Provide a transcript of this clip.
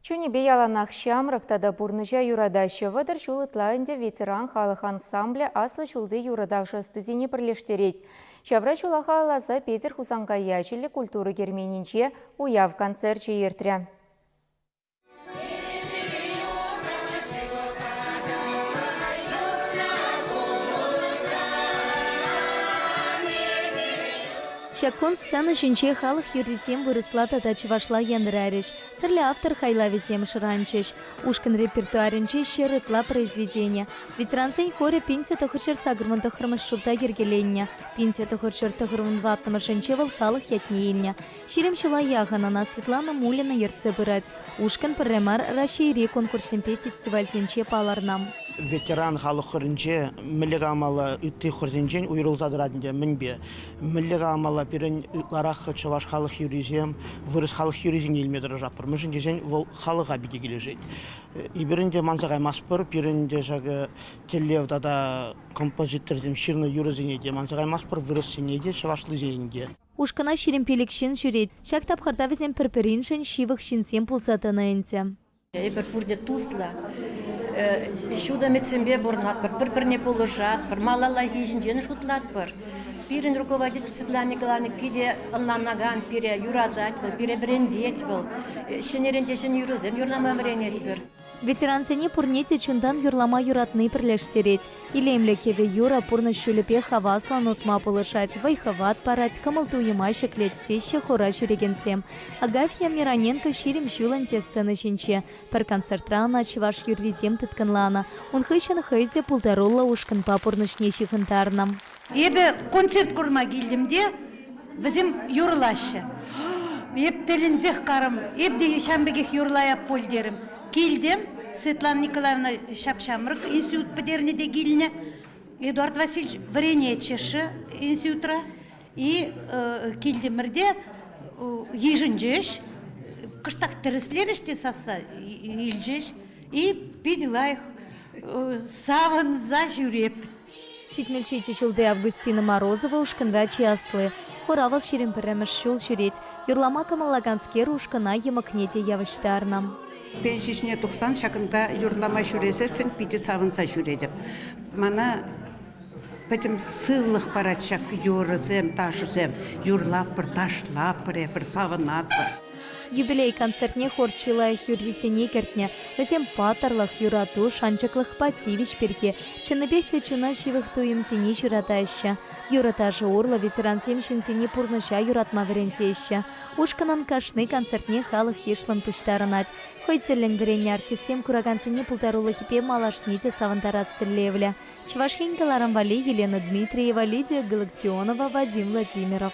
Чунӗпе яланах ҫамрӑк тата пурнӑҫа юратаҫҫӗ. Вӑтӑр ҫул ытла ӗнтӗ ветеран халӑх ансамблӗ аслӑ ҫулти юрӑ-ташӑ ӑстисене пӗрлештерет. Ҫавра ҫула халалласа Петӗр Хусанкай ячӗллӗ культура керменӗнче уяв концерчӗ иртрӗ. Ҫак кун сцена ҫинче халӑх юррисем вырӑсла тата чӑвашла янӑрарӗҫ, тӗрлӗ автор хайлавӗсем шӑранчӗҫ. Ушкӑн репертуарӗнче ҫӗр ытла произведени, ветерансен хорӗ пинтӗ тӑхӑрҫӑр сакӑрмӑн тӑххӑрмӗш ҫулта йӗркеленнӗ. Пинтӗ тӑхӑрҫӑр тӑхӑрмӑн ваттӑмӑшӗнче вӑл халӑх ятне илнӗ. Ҫирӗм ҫула яхӑн ӑна Светлана Мулина ертсе пырать. Ушкӑн пӗрре мар Раҫҫейри конкурссемпе фестивальсенче палӑрнӑ. Ветеран халӑх хорӗнче мӗнле калмалла, ытти хорсенчен уйрӑлса тӑрать ӗнтӗ. Мӗнпе? Мӗнле-ха амала пирӗн ытларах чӑваш халӑх юррисем, вырӑс халӑх юррисене илме тӑрӑшатпӑр, мӗншӗн тесен вӑл халӑха питӗ килӗшет. Эпир ӗнтӗ манса каймастпӑр, пирӗн ӗнтӗ ҫакӑ тӗллев тата композиторсем ҫырнӑ юрӑсене те манса каймастпӑр, вырӑссене те, чӑвашлисене те. Ушкӑна ҫирӗм пилӗк ҫын ҫӳрет. Ҫак тапхӑрта вӗсем пӗр-пӗриншӗн ҫывӑх ҫынсем пулса тӑнӑ ӗнтӗ. Эпир пурте туслӑ, ҫут ӗмӗтсемпе пурӑнатпӑр, пӗр-пӗрне пулӑшатпӑр, малаллахи ҫинчен шутлатпӑр. Пирӗн руководитель Светлана Николаевна питӗ ӑнланакан пире, юратать вӑл, пире вӗрентет вӑл. Ҫӗнӗрен те ҫӗнӗ юрӑсем юрлама вӗренетпӗр. Ветерансене пурне те чунтан юрлама юратни пӗрлештерет. Илемлӗ кӗвӗ-юрӑ пурнӑҫ ҫулӗпе хаваслӑн утма пулӑшать, вӑй-хӑват парать, кӑмӑл-туйӑма ҫӗклет, теҫҫӗ хора ҫӳрекенсем. Агафья Мироненко ҫирӗм ҫулӑн те сцена ҫинче. Пӗр концертра ӑна чӑваш юррисем тыткӑнланӑ. Ун хыҫҫӑн хӑй те пултаруллӑ ушкӑнпа пурнӑҫне ҫыхӑнтарнӑ. Эпӗ концерт курма килтӗм те вӗсем юрлаҫҫӗ. Эп тӗлӗнсех карӑм, эп те ҫавӑн пекех юрлая пуль терӗм. Килтӗм, Светлана Николаевна ҫап-ҫамрӑк институт пӗтернӗ те килнӗ. Эдуард Васильевич вӗренетчӗ-ши институтра. И килтӗмӗрте йышӑнчӗҫ. Кӑштах тӗрӗслерӗҫ те сасса илчӗҫ. И питӗ лайӑх савӑнса ҫӳреп Ҫитмӗлҫичӗ ҫулти Августина Морозова ушкӑнра чи асли. Хура вӑл ҫирӗм пӗрремӗш ҫул ҫӳрет. Юрлама кӑмӑллаканскер ушкӑна йӑмӑкне те явӑҫтарнӑ. Пен ҫиҫне тухсан ҫакӑнта юрлама ҫӳресессӗн питӗ савӑнса ҫӳретӗп. Мана пӗтӗм сывлӑх парать ҫак юрӑсем, ташӑсем. Юрлатпӑр, ташлатпӑр, эпир савӑнатпӑр. Юбилей концертне хор чи лайӑх юррисене кӗртнӗ. Вӗсем паттӑрлӑх, юрату, шанчӑклӑхпа тивӗҫ пирки чӑннипех те чуна ҫывӑх туйӑмсене ҫуратаҫҫӗ. Юрӑ-ташӑ урлӑ ветерансем ҫынсене пурнӑҫа юратма вӗрентеҫҫӗ. Ушкӑнӑн кашни концертне халӑх йышлӑн пуҫтарӑнать. Хӑй тӗллӗн вӗреннӗ артистсем куракансене пултарулӑхӗпе малашне те савӑнтарас тӗллевлӗ. Чӑваш Ен каларӑм валли Елена Дмитриева, Лидия Галактионова, Вадим Владимиров.